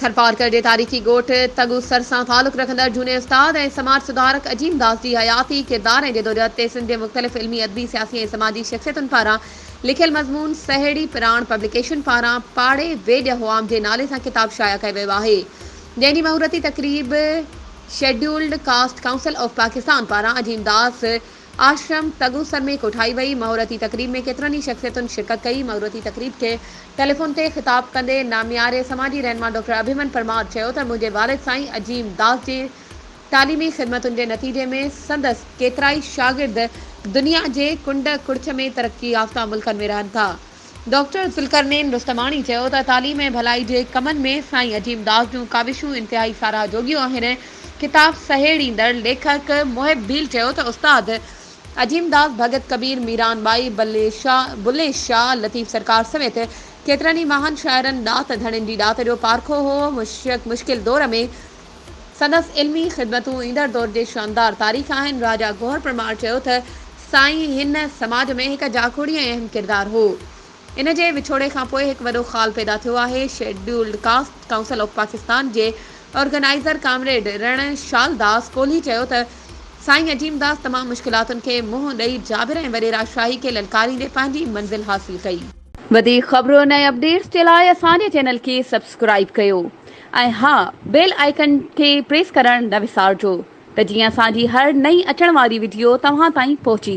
ٿرپارڪر جي تاريخي ڳوٺ تڳوسر سان تعلق رکندڙ جھوني استاد ۽ سماج سڌارڪ عظيم داس جي حياتي، ڪردار ۽ جدوجهد تي سنڌ جي مختلف علمي، ادبي، سياسي ۽ سماجي شخصيتن پاران لکيل مضمون سهيڙي پراڻ پبليڪيشن پاران پاڙي ويڄ هئام جي نالي سان ڪتاب شايع ڪيو ويو آهي جنهن جي مهورتي تقريب scheduled caste council of Pakistan پاران عظيم داس آشرم تغوسر ۾ ڪوٺائي وئي. مهورتي تقريب ۾ ڪيترن ئي شخصيتن شرڪت ڪئي. مهورتي تقريب کي ٽيليفون تي خطاب ڪندي نامياري سماجي رهنما ڊاڪٽر اڀيمن پرمار چيو ته منهنجي والد سائين عظيم داس جي تعليمي خدمتن جي نتيجي ۾ سندس ڪيترائي شاگرد دنيا جي ڪنڊ ڪڙڇ ۾ ترقي يافته ملڪن ۾ رهن ٿا. ڊاڪٽر ذوالقرنين رستماڻي چيو ته تعليم ۽ ڀلائي جي ڪمن ۾ سائين عظيم داس جون ڪاوشون انتهائي ساراهه جوڳيون آهن. ڪتاب سهيڙيندڙ ليکڪ محب ڀيل چيو ته استاد عظيم داس، ڀڳت ڪبير، ميران ٻائي، بلي شاهه، لطيف سرڪار سميت ڪيترن ئي مهان شاعرن، ڏات ڌڻين جي ڏات جو پارکو هو. مشڪل دور ۾ سندس علمي خدمتون ايندڙ دور جي شاندار تاريخ آهن. راجا گوهر پرمار چيو ته سائين هن سماج ۾ هڪ جاکوڙي ۽ اهم ڪردار هو. ان جي وڇوڙي کان پوء هڪ وڏو خال پيدا ٿيو آهي. Scheduled caste council of Pakistan جي آرگنائيزر ڪامريڊ رڻ شال داس ڪولهي چيو ته سائين عظيم داس تمام مشڪلاتن کي منهن ڏئي جابر ۽ وڏيرا شاهي کي للڪاريندي پنهنجي منزل حاصل ڪئي. وڌيڪ خبرون ۽ اپڊيٽس جي لاء اسان جي چينل کي سبسڪرائيب ڪيو. ۽ ها بيل آئيڪن کي پريس ڪرڻ نه وسارجو ته جيئن اسان جي هر نئين اچڻ واري وڊيو توهان تائين پهچي